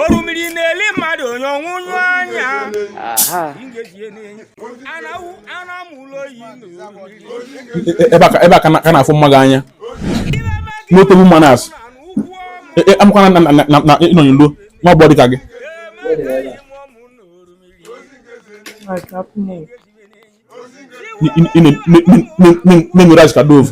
orimiri na-eli mmadụ onye ọnwụ nyụ anya ebe a ka na-afụ mma gị anya n'otobu mmanụ asụ amụkwana na ịnọnye luo nwa ọgbọ dịka gị na-enwere azụ ka dove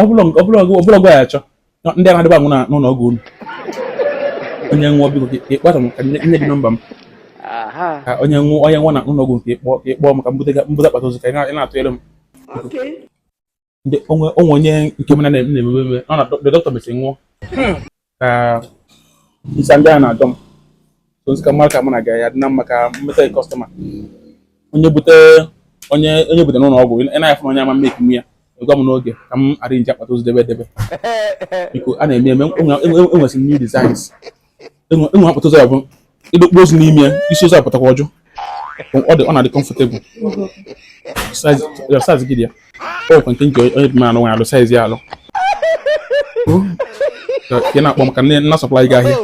ọbụlọgụ ya achọ ndị a na-adịba anwụ n'ụlọ ọgwụ unu onye nwụọ biko ka ị kpọtụ m ka m nye gị nọmba m ka onye nwụọ onye nwụọ na ụlọ ọgwụ nke ị kpọ ka ị kpọọ m ka m bute m bute akpatị ozu ka ị na-atụnyere m o nwee onye nke m na-emebe ọ na dọkịta mesịrị nwụọ ka isa ndị a na-adọ m ozi ka m mara ka mụ na gị ya-adị na mma ka m meta kọstọma onye e bute onye onye e bute n'ụlọ ọgwụ ị na-afụ onye ama mmeki m ya gwa m n'oge ka m arrange akpatị ozu debe debe biko a na-eme eme enwesị m new designs e nwee akpatị ozu ọ bụ ị dọkpụ ozu n'ime ya isi ozu apụtakwa ọjụ ọ dị ọ na-adị kọmfọtebụl saiz gị dị ya ọ kwa nke nke onye dị mmanụ nwanyị alụ saiz ya alụ ka ị na-akpọ m ka m na-asọplai gị ahịa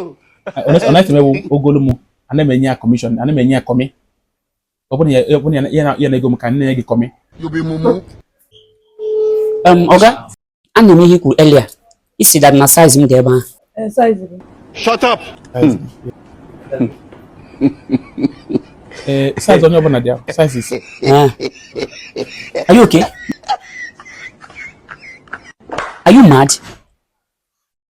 ọ na-efe mewu ogolu m ana m enye ya kọmishọn ana m enye ya kọmị ọ bụrụ ya na ego m ka m nye gị kọmị ọga anụ m ihe i kwuru earlier ị sị that na saiz m dị ebe ahụ shut up ee saiz onye ọbụla dị ahụ saizis ah. are you okay are you mad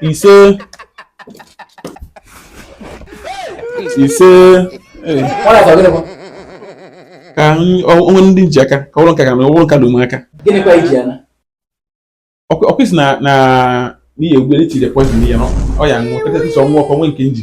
ise ise ka o nwee ndị ji aka ka ụlọ nka ga ụlọ nka dum aka ọkụ isi na n'ihi egwu na-echiri poizin ya ọ ya nwụọ kachasị sọ nwa ọkọ nwe nke m ji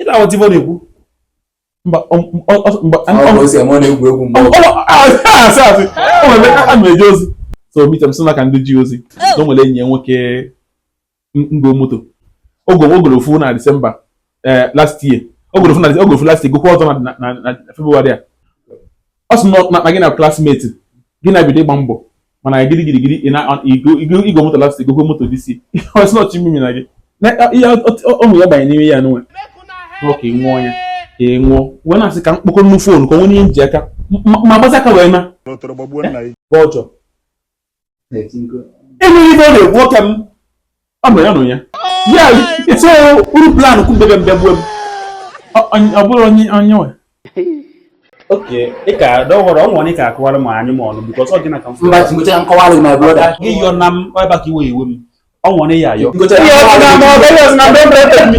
ị na-aghọta ife ọ na-ekwu mba a na-eje ozi so meet m sị na ka ndị ji ozi na o nwere enyi ya nwoke ngo moto o go o goro ofu na disemba eh, last year o goro ofu na o goro ofu last year gokwa ọzọ na febụwarị a ọ sị na gị na klasmeti gị na bido ịgba mbọ mana anyị gịrị gịrị gịrị i go moto last year gokwa moto this year ọ sị nọchi mmiri na gị ihe ọmụ ya banye n'ime ya n'onwe ka ị nwụọ ya ka ị nwụọ wee na-asị ka m kpọkọ nnu fon ka o nwee ihe m ji aka ma gbazi aka wee na ọjọ enweghị ife ọ na-ekwu nwoke m ọ nọ ya nọ ya ya so uru plan kwu bebe mbe gbuo m ọ bụrụ onye onye nwe okay ịka don't worry ọ nwere ịka akọwara m anyị ma ọnụ because ọ gịnị ka m mba tingocha nkọwara gị my brother gị yọ na m ebe ka iwe iwe m ọ nwere ya ayọ tingocha ya ọ na ma ọ bụ ya na mbe mbe mi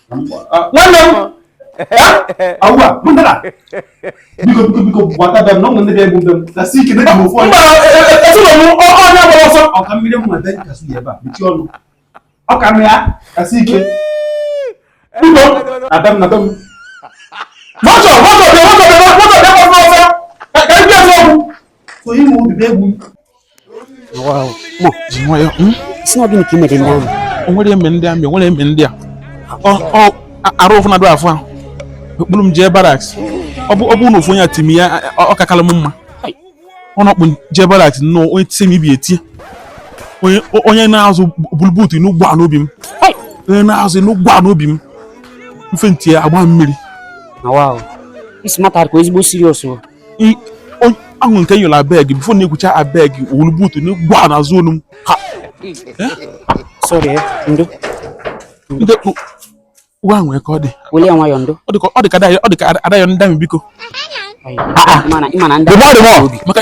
nwanne m awụwa mụnara biko biko biko gbata be m na ụmụ ndị ga-egbu mbe m na si ike dịka m ofu onye ezinụlọ m onye gbara ọsọ ọka mmiri m nweta ka su ya ebe a mechie ọnụ ọka m ya ka si ike biko na be m na be m mọtọ mọtọ bịa mọtọ bịa mọtọ bịa mọtọ ọsọ ka ndị ọsọ ọgwụ so ịmụ obi bụ egwu sị na ọ gịnị ka i mere ndị army o nwere eme ndị army o nwere eme ndị a arụ ụfụ na-adụ afụ ahụ ọ kpụrụ m jee barracks ọ bụ na ofu onye atimi ya ọ kakalụ m mma ọ na-akpụ jee barracks nnọọ onye tise m ibi etie onye na-azọ bulu boot n'ụgbọ a n'obi m onye na-azọ n'ụgbọ a n'obi m mfe nti ya agba mmiri this matter ka ezigbo serious ahụ nke nyụrụ abeg before na-ekwucha abeg o bulu boot na gwa n'azụ olu m ha uwe ahụ nwee ka ọ dị ọ dị ka a da ayọ ndị army biko maka